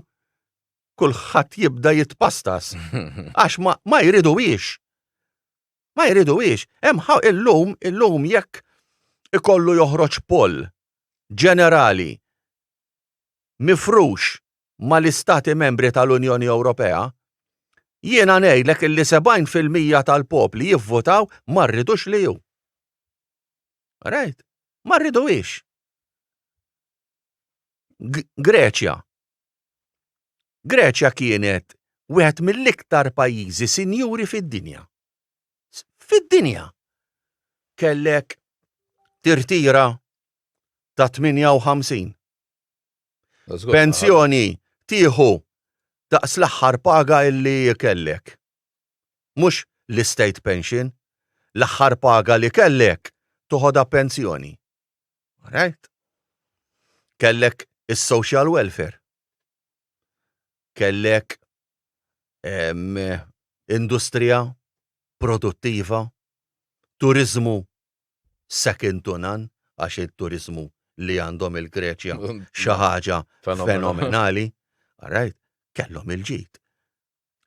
kulħadd jibda jitpastas. Għax ma jriduhiex. Ma jriduhiex. Hemm illum, illum jekk ikollu joħroġ poll ġenerali mifrux mal-Istati Membri tal-Unjoni Ewropea, jiena ngħidlek illi 70 fil-mija tal-popli jivvotaw ma rridux li hu. Right? Ma rriduhiex. Greċja. Greċja kienet wieħed mill-iktar pajjiżi sinjuri fid-dinja. Fid-dinja. Kellek tirtira ta' 58 Pensjoni tieħu daqs l-aħħar paga li kellek. Mhux l-estate pension, l-aħħar paga li kellek toħodha pensjoni. Alright? Kellek is-social welfare. Kellek um, industrija produttiva, turizmu second to none għax it-turiżmu li għandhom il-Greċja xi ħaġa fenomenali, alright, kellhom il-ġid.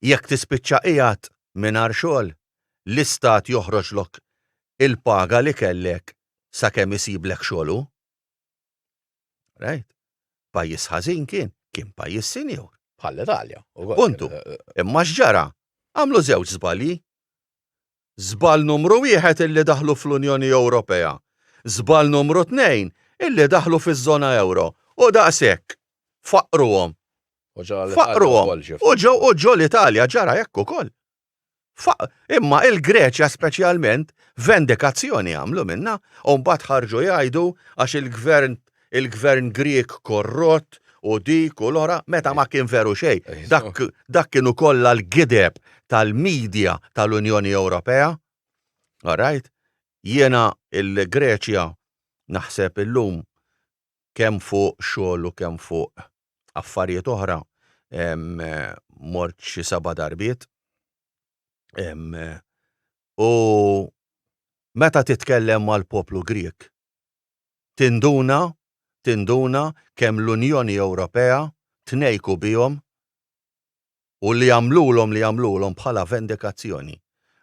Jekk tispiċċa qiegħed mingħajr xogħol, l-istat joħroġlok il-paga li kellek sakemm isiblek xogħol hu. Alright? Pajjiż ħażin kien, kien pajjiż sinjur. Bħall-Italja. Puntu. Imma x'ġara? Għamlu żewġ żbalji. Żball numru wieħed illi daħlu fl-Unjoni Ewropea, żball numru tnejn illi daħlu fiż-żona ewro u daqshekk faqqruhom. Faqqruhom u ġew u ġo l-Italja ġara hekk ukoll. Faq imma il-Greċja speċjalment vendikazzjoni għamlu minnha u mbagħad ħarġu jgħidu għax il-Gvern il-gvern Grieg korrott u dik u l-oħra meta ma kien veru xejn. Dak, dak kienu kollha l-gideb tal-media tal-Unjoni Ewropea. All right? Jiena il-Greċja naħseb illum kemm fuq xogħol u kemm fuq affarijiet oħra mort xi seba' darbiet. U meta titkellem mal-poplu Grieg, Tinduna, tinduna kemm l-Unjoni Ewropea tnejjku bihom u li għamlulhom li għamlulhom bħala vendikazzjoni.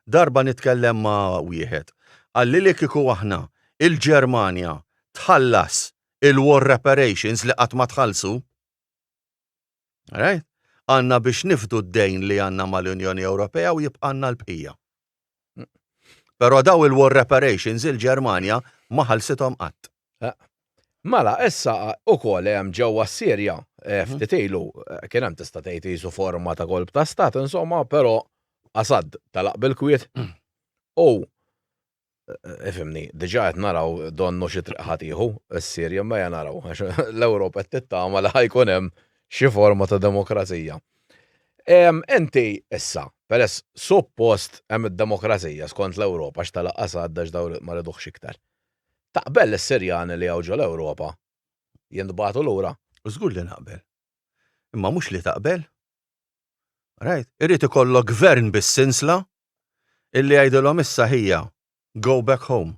Darba nitkellem ma' wieħed, qalli li kieku aħna, il-Ġermanja, tħallas il-war reparations li qatt ma tħallsu, All right? Għandna biex nifdu d-dejn li għandna mal-Unjoni Ewropea u jibqgħalna l-bqija. Però dawn il-war reparations il-Ġermanja ma ħallsithom qatt. Mela, issa ukoll hemm ġewwa s-Sirja, ftit ilu, kien hemm tista' tgħid qisu forma ta' kolp ta' stat insomma, però Assad telaq bil-kwiet u ifimni, diġà qed naraw donnu xi triq ħa tieħu s-Sirja imma ejja naraw għax l-Ewropa qed tittama li ħa jkun hemm xi forma ta' demokrazija. Inti issa, peress suppost hemm id-demokrazija skont l-Ewropa għax telaq Assad għax dawn ma riduhx iktar. Taqbel li s-Sirjani li hawn ġol-Ewropa jintbagħtu lura? Żgur li naqbel. Imma mhux li taqbel. Rajt? Irid ikollok gvern bis-sinsla Illi jgħidilhom issa ħija, go back home.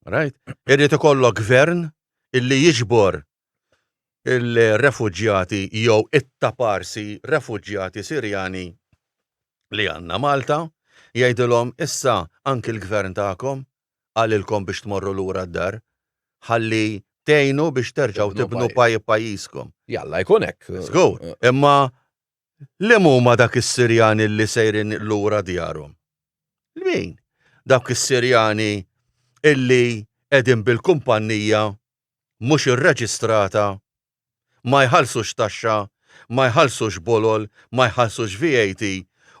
Right? Irrid ikollok gvern illi jiġbor il-refuġjati jew it-taparsi refuġjati Sirjani li għandna Malta, jgħidilhom issa anki l-gvern tagħkom qalilkom biex tmorru lura d-dar ħalli tgħinu biex terġgħu tibnu pajjiżkom. Jalla jkun hekk. Żgur, imma Liem huma dak is-Sirjani li sejrin lura djarhom? Min? Dawk is-Sirjani li qegħdin bil-kumpannija mhux irreġistrata, ma jħallsux taxxa, ma jħallsux bolol, ma jħallsux VAT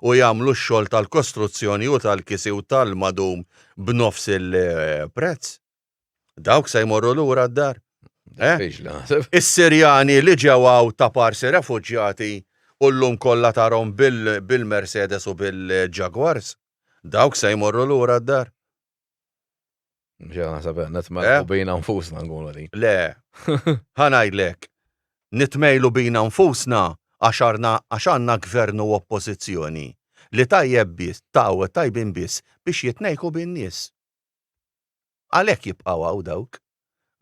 u jagħmlu x-xogħol tal-kostruzzjoni u tal-kisi u tal-madum b'nofs il-prezz? Dawk se jmorru lura d-dar. Eh? Is-Sirjani li ġewgħu ta' parsi refuġjati u llum kollha tarhom bil-Mercedes u bil-Jaguars, dawk se jmorru lura d-dar. Ġew naħseb nitmejlu eh? bina nfusna nkunu li. Le, ħa ngħidlek, nitmejlu bina nfusna għax għandna gvern u oppożizzjoni li tajjeb biss, taw tajbin biss biex jitnejku bin-nies. Għalhekk jibqgħu hawn dawk.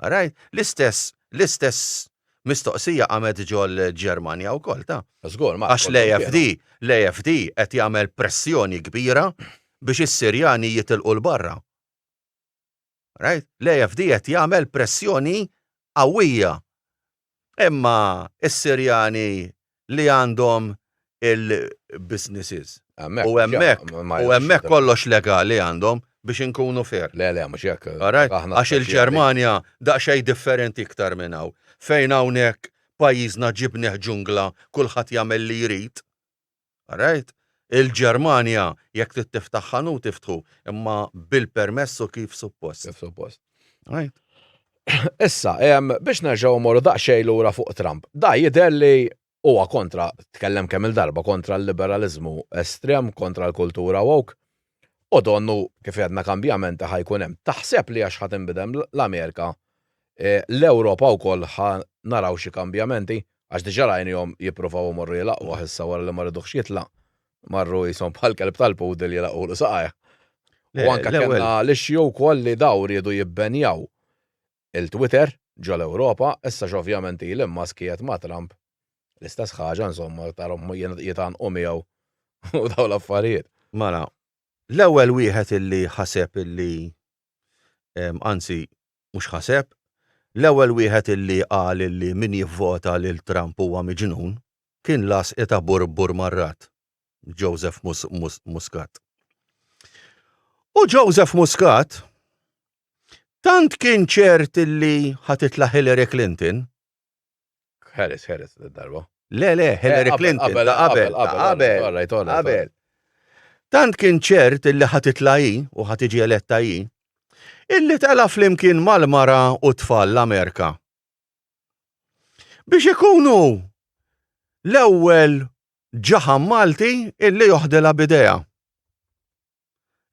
Rajt? L-istess, l-istess mistoqsija qamet ġol-Ġermanja wkoll, ta? Żgur, Marco. Għax l-AFD, l-AFD qed jagħmel pressjoni kbira biex is-Sirjani jitilqu 'l barra. Rajt? L-AFD qed jagħmel pressjoni qawwija Imma s-Sirjani li għandhom il-businesses. U hemmhekk, u hemmhekk kollox legali għandhom, biex inkunu fair. Le, le, mhux hekk. Għax il-Ġermanja daqsxejn differenti iktar minn hawn. Fejn hawnhekk pajjiżna ġibnieh ġungla, kulħadd jagħmel li jrid. All right? Il-Ġermanja jekk trid tiftaħ ħanut iftħu, imma bil-permess u kif suppost. Kif suppost. Right? Issa, biex nerġgħu mmorru daqsxejn lura fuq Trump. Da jidher li huwa kontra, tkellem kemm il-darba kontra l-liberaliżmu estrem, kontra l-kultura woke. U donnu, kif għedna kambjamenti ħa jkun hemm. Taħseb li għax ħa tinbidem l-Amerika, l-Ewropa wkoll ħa naraw xi kambjamenti? Għax diġà rajnihom jippruvaw imorru jilaqquh issa wara li ma ridux jitlaq. Marru qishom bħal kelb tal-poodle jilaqqulu saqajh. U anke kellna l-issue wkoll li dawn riedu jibbenjaw Il-Twitter ġol-Ewropa, issa x'ovvjament Elon Musk qiegħed ma' Trump, l-istess ħaġa insomma tarhom jitgħannqu miegħu u dawn l-affarijiet. Mela, l-ewwel wieħed illi ħaseb illi, anzi mhux ħaseb, l-ewwel wieħed illi qal illi min jivvota lil Trump huwa miġnun kien l-għasqi ta' Burbur Marrat. Joseph Muscat. U Joseph Muscat tant kien ċert li ħatitla Hillary Clinton. Harris, Harris, darba. Le, le, Hillary eh, Clinton. Qabel, qabel, qabel, qabel. Tant kien ċert illi ħatitla hi u ħatiġi eletta hi, illi tela flimkien mal-mara u tfal l-Amerika. Biex ikunu l-ewwel ġaħam Malti illi joħdilha bidejha.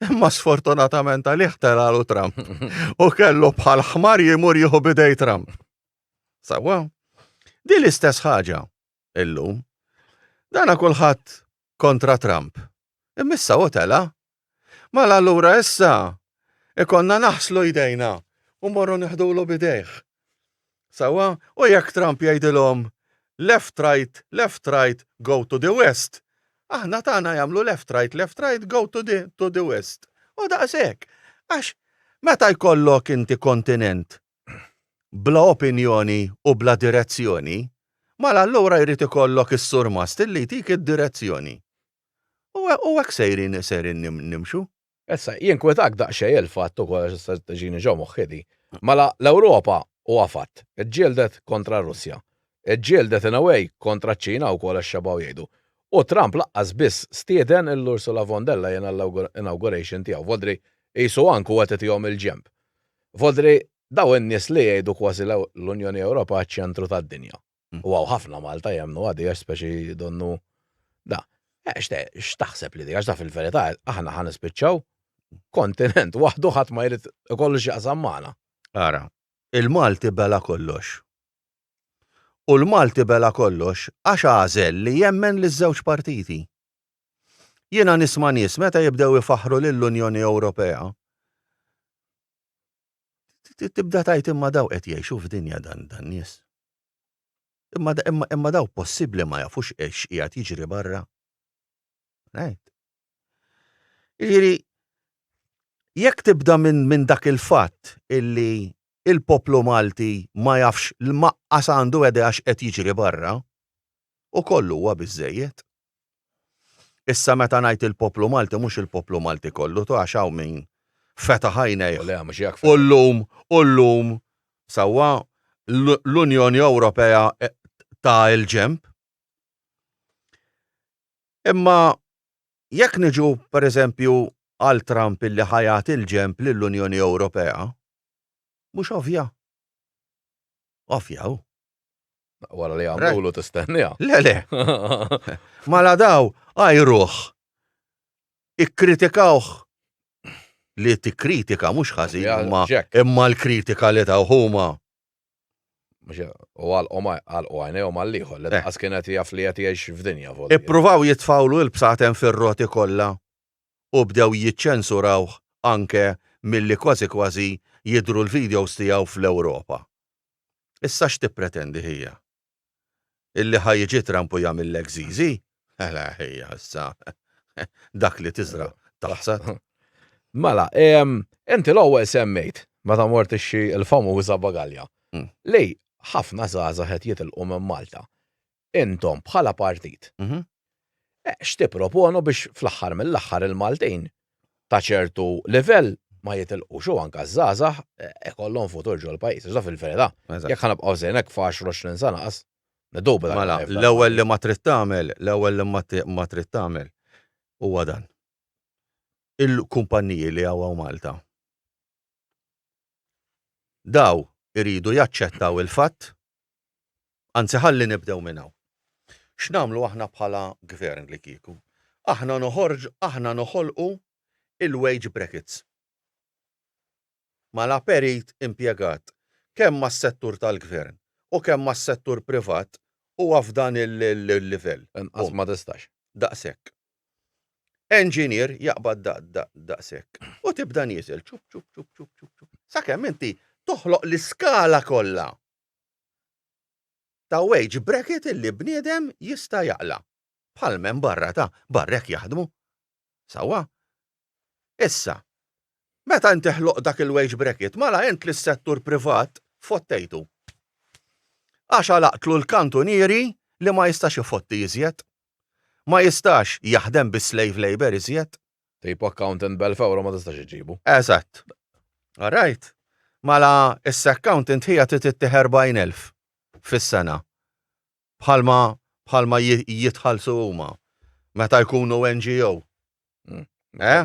Imma sfortunatament għalih telalu Trump. U kellu bħal ħmar jimur jieħu bidej Trump. Sawa? Di l-istess ħaġa illum. Dana kulħadd kontra Trump. Immissa u tela Mela allura issa ikollna naħslu jdejna u morru neħdulu b'idejh. Sewwa, u jekk Trump jgħidilhom left right, left right, go to the west, aħna tagħna jagħmlu left right, left right, go to the, to the west. U daqshekk. Għax meta jkollok inti kontinent bla opinjoni u bla direzzjoni, mela allura jrid ikollok is-surmast li jtik id-direzzjoni. U hekk sejrin, sejrin nimxu. Issa, jinkwetak daqsxejn il-fatt ukoll, għax issa qed tiġini ġo moħħi di, mela l-Ewropa, huwa fatt, iġġieldet kontra r-Russja. Iġġieldet in a way kontra ċ-Ċina wkoll għax xebgħu jgħidu. U Trump laqqas biss stieden lil Ursula von der Leyen għall-inauguration tiegħu. Vodri qisu anke hu qed itihom il-ġenb. Vodri dawn in-nies li jgħidu kważi l-Unjoni Ewropea ċ-ċentru tad-dinja. U għaw ħafna Malta jemnu għadi għax speċi donnu da. Eh, x'taħseb li di għax da fil-verità aħna ħan ispiċċaw kontinent waħdu ħadd ma jrid ikollu x'jaqsam magħna. Ara, il-Malti bela kollox. U l-Malti bela kollox għax għażel li jemmen liż-żewġ partiti. Jiena nisma' nies meta jibdew ifaħħru lill-Unjoni Ewropea tibda tajt imma daw qed jgħixu f'dinja dan dan nies. Imma, imma, imma daw possibbli ma jafux ex qiegħed jiġri barra. Right? Jiġifieri, jekk tibda minn min dak il-fatt illi il-poplu Malti ma jafx l-maqqas għandu għede għax qed jiġri barra, u kollu huwa biżejjed. Issa meta ngħid il-poplu Malti mhux il-poplu Malti kollu tu għax hawn min fetaħ għajnejh u llum u llum sewwa l-Unjoni Ewropea ta l-ġenb. Imma jekk niġu pereżempju għal Trump illi ħa jagħti l-ġenb lill-Unjoni Ewropea mhux ovvja? Ovvja hu. Wara li għamlu tistennija. Le, le. Mala daw, għajruħ. Ikkritikawħ li tikkritika mhux ħażin imma imma l-kritika li taw huma. U għalqhom għalqu għajnejhom għall-ieħor li daqas eh. kienet jaf li qed jgħix f'dinja volja. Ippruvaw jitfawlu l-bsatem fir-roti kollha u bdew jiċċensurawh anke milli kważi kważi jidru l-videos tiegħu fl-Ewropa. Issa x'tippretendi hija? Illi ħa jiġi Trump u jagħmillek żiżi? Mela hija issa dak li tiżra' taħsad. Mela, inti l-ewwel semmejt, meta mort tixtri l-famuża bagalja, li ħafna żgħażagħ qed jitilqu minn Malta. Intom, bħala partit, x'tipproponu biex fl-aħħar mill-aħħar il-Maltin ta' ċertu livell ma jitilqux u anke ż-żgħażagħ ikollhom futur ġol-pajjiż? Għax dan fil-verità, jekk ħa nibqgħu sejrin hekk f'għaxru għoxrin sena qas, niddubita. Mela, l-ewwel li ma trid tagħmel, l-ewwel li ma trid tagħmel huwa dan. Il-kumpanniji li hawn Malta, dawn iridu jaċċettaw il-fatt Anzi ħalli nibdew minn hawn. X'nagħmlu aħna bħala Gvern li kieku? Aħna noħorġu, aħna noħolqu il-wage brackets. Mela perit impjegat kemm mas-settur tal-Gvern u kemm mas-settur privat huwa f'dan il-livell. Inqas ma tistax. Daqshekk. Enġinier jaqbad daqshekk. U tibda nieżel, ċup ċup ċup ċup ċup ċup. Sakemm inti toħloq l-iskala kollha. ta' wage bracket illi bniedem jista' jaqla'. Bħal m'hemm barra ta' barra hekk jaħdmu. Sewwa? Issa, meta inti ħloqt dak il-wage bracket, mela int lis-settur privat fottejtu. Għax għalaqtlu l-kantunieri li ma jistax ifotti iżjed. Ma jistax jaħdem bis-slave labour iżjed. Tip accountant b'elf ewro ma tistax iġġibu. Eżatt. All right. Mela issa accountant ħija trid ittih erbgħin elf fis-sena bħalma bħalma jitħallsu huma meta jkunu NGO. Eh?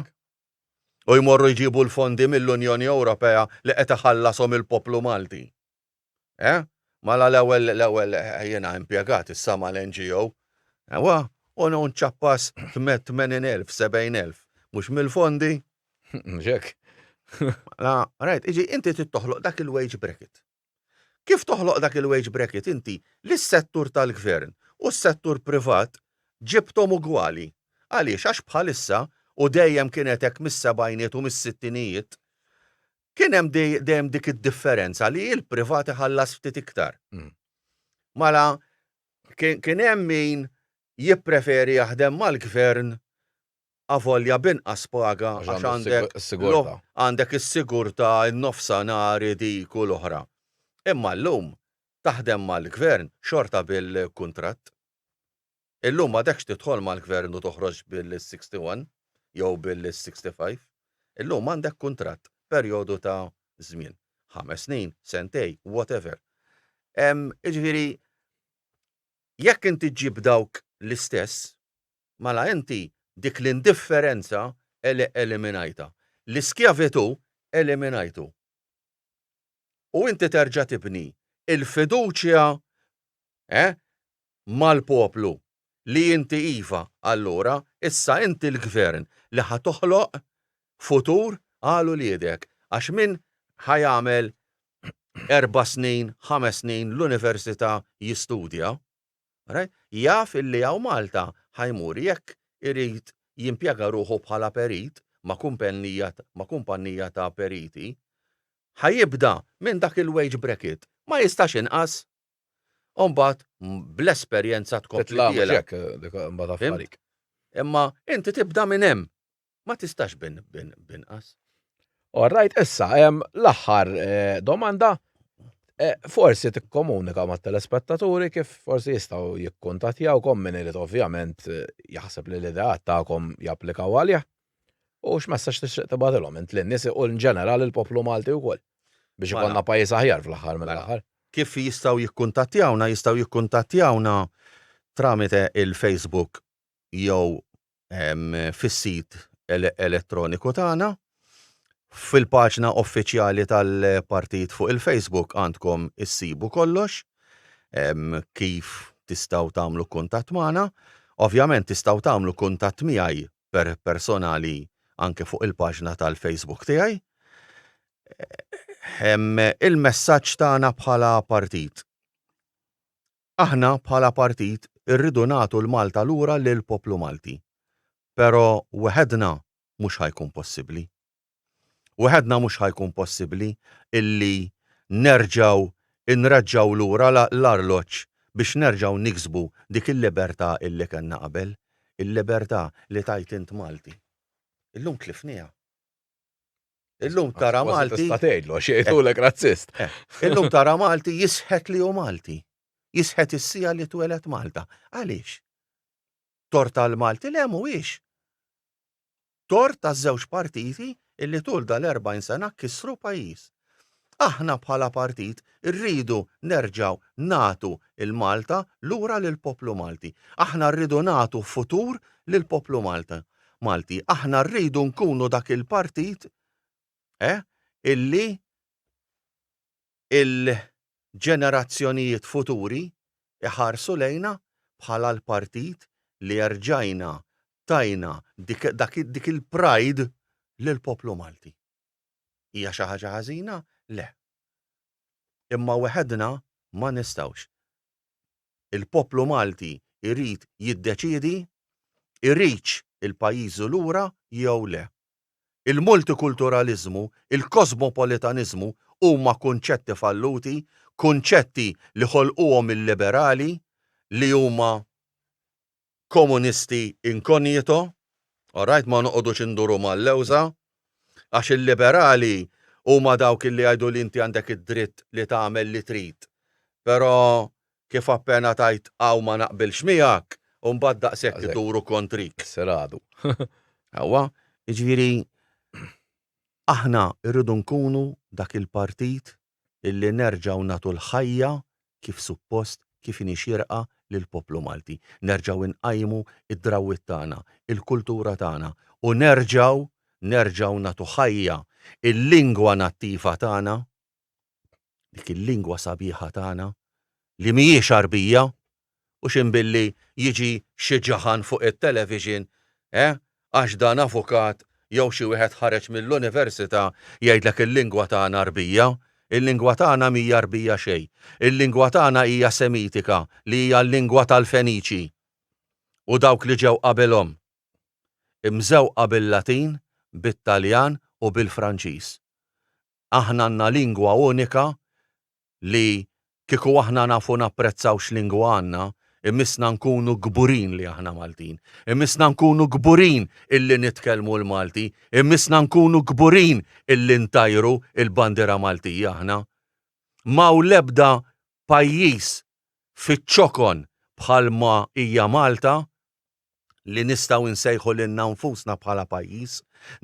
U jmorru jġibu l-fondi mill-Unjoni Ewropea li qed iħallashom il-poplu Malti. Eh? Mela l-ewwel, l-ewwel jiena impjegat, issa mal-NGO. Ewwa, u no nċappas tmenin elf, sebgħin elf. Mhux mill-fondi? Mhux hekk? Mela, rajt, jiġi inti trid toħloq dak il-wage bracket. Kif toħloq dak il-wage bracket inti li s-settur tal-gvern u s-settur privat ġibthom ugwali. Għaliex? Għax bħalissa, u dejjem kienet hekk mis-sebgħinijiet u mis-sittinijiet, kien hemm dejjem dik id-differenza li l-privat iħallas ftit iktar. Mm. Mala kien hemm min jippreferi jaħdem mal-gvern avolja binqas paga għax għandek għandek is-sigurta n-nofsanari dik u l-oħra. Imma llum taħdem mal-gvern xorta bil-kuntratt. Illum m'għadekx tidħol mal-Gvern u toħroġ Bill is-61 jew Bill is-65. Illum għandek kuntratt, perjodu ta' żmien. Ħames snin, sentejn, whatever. Jiġifieri, jekk inti ġġib dawk l-istess, mela inti dik l-indifferenza eliminajtha. L-iskjavitù eliminajtu. U inti terġa' tibni l-fiduċja mal-poplu li inti iva, allura, issa inti l-Gvern li ħa toħloq futur għal uliedek, għax min ħa jagħmel erba' snin, ħames snin l-Università jistudja, right, jaf illi hawn Malta ħa jmur jekk irid jimpjega ruħu bħala perit ma' kumpennija ma' kumpannija ta' periti, ħa jibda minn dak il-wage bracket, ma jistax inqas. U mbagħad bl-esperjenza tkompli. Titla' mhux hekk dik mbagħad affarik. Imma inti tibda minn hemm. Ma tistax binqas. All right, issa hemm l-aħħar domanda. Forsi tikkomunika mat-telespettaturi kif forsi jistgħu jikkuntattjawkom min irid ovvjament jaħseb li l-ideat tagħkom japplikaw għalih. U x'messaġġ tixtieq tibgħatilhom int lin-nies u in ġeneral lill-poplu Malti wkoll biex Mela. ikollna pajjiż aħjar fl-aħħar Mela. mill-aħħar? Kif jistgħu jikkuntattjawna? Jistgħu jikkuntattjawna tramite il-Facebook jew ehm, fis-sit ele elettroniku tagħna. Fil-paġna uffiċjali tal-partit fuq il-Facebook għandkom issibu kollox ehm, kif tistgħu tagħmlu kuntatt magħna. Ovvjament tistgħu tagħmlu kuntatt miegħi per personali anke fuq il-paġna tal-Facebook tiegħi. Il-messaġġ tagħna bħala partit. Aħna bħala partit irridu nagħtu l-Malta lura lill-poplu Malti. Però weħedna mhux ħa jkun possibbli. Waħedna mhux ħa jkun possibbli illi nerġgħu nreġġgħu lura l-arloġġ biex nerġgħu niksbu dik il-libertà illi kellna qabel, il-libertà li tgħid int Malti. Illum tlifnieha. Illum tara Malti. Kważi tista' tgħidlu għax jgħidulek razzist. Illum tara Malti jisħet li hu Malti. Jisħet is-sija li tweled Malta. Għaliex? Torta l-Malti le mhuwiex. tort għaż-żewġ partiti illi tul dal-40 sena kissru pajjiż. Aħna bħala partit irridu nerġgħu nagħtu l-Malta lura lill-poplu Malti. Aħna rridu nagħtu futur lill-poplu Malta, Malti. Aħna rridu nkunu dak il-partit eh, illi il-ġenerazzjonijiet futuri jħarsu lejna bħala l-partit li erġajna tajna dik il-pride lill-poplu Malti. Hija xi ħaġa ħażina? Le. Imma weħedna ma nistgħux. Il-poplu Malti jrid jiddeċiedi jridx il-pajjiżu lura jew le. Il-multikulturaliżmu, il-kosmopolitaniżmu huma kunċetti falluti, kunċetti li ħolquhom il-liberali li huma komunisti incognito, alright, ma noqogħdux induru mal-lewża, għax il-liberali huma dawk li jgħidu li inti għandek id-dritt li tagħmel li trid, però kif appena tgħid hawn ma naqbilx miegħek u mbagħad daqshekk iduru kontrik. Isser għadu. Ewwa, jiġifieri aħna rridu nkunu dak il-partit illi nerġgħu nagħtu l-ħajja kif suppost, kif inhi xierqa lill-poplu Malti. Nerġgħu inqajmu d-drawwiet tagħna, il-kultura tagħna u nerġgħu, nerġgħu nagħtu ħajja l-lingwa nattiva tagħna dik il-lingwa sabiħa tagħna li mhijiex Għarbija u x'hemm billi jiġi xi ġaħan fuq it-television, eh, għax dan avukat jew xi wieħed ħareġ mill-università jgħidlek il-lingwa tagħna Għarbija. Il-lingwa tagħna mhija Għarbija xejn. Il-lingwa tagħna hija Semitika li hija l-lingwa tal-Feniċi u dawk li ġew qabelhom, imżewqa bil-Latin, bit-Taljan u bil-Franċiż. Aħna għandna lingwa unika li kieku aħna nafu napprezzaw x'lingwa għandna, imissna nkunu kburin li aħna Maltin. Imissna nkunu kburin illi nitkellmu l-Malti. Imissna nkunu kburin illi ntajru l-bandiera Maltija aħna. M'hawn l-ebda pajjiż fiċ-ċokon bħalma hija Malta li nistgħu nsejħu lilna nfusna bħala pajjiż,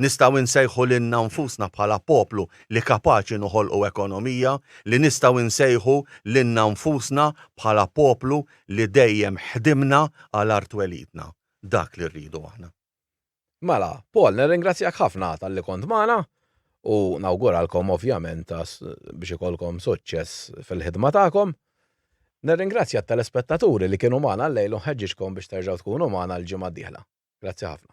nistgħu nsejħu lilna nfusna bħala poplu li kapaċi noħolqu ekonomija, li nistgħu nsejħu lilna nfusna bħala poplu li dejjem ħdimna għal art twelidna. Dak li rridu aħna. Mela, Paul, nirringrazzjak ħafna talli kont magħna u nawguralkom ovvjament biex ikollkom suċċess fil-ħidma tagħkom. Nirringrazzja t-telespettaturi li kienu magħna llejl u nħeġġiġkom biex terġgħu tkunu magħna l-ġimgħa d-dieħla. Grazzi ħafna.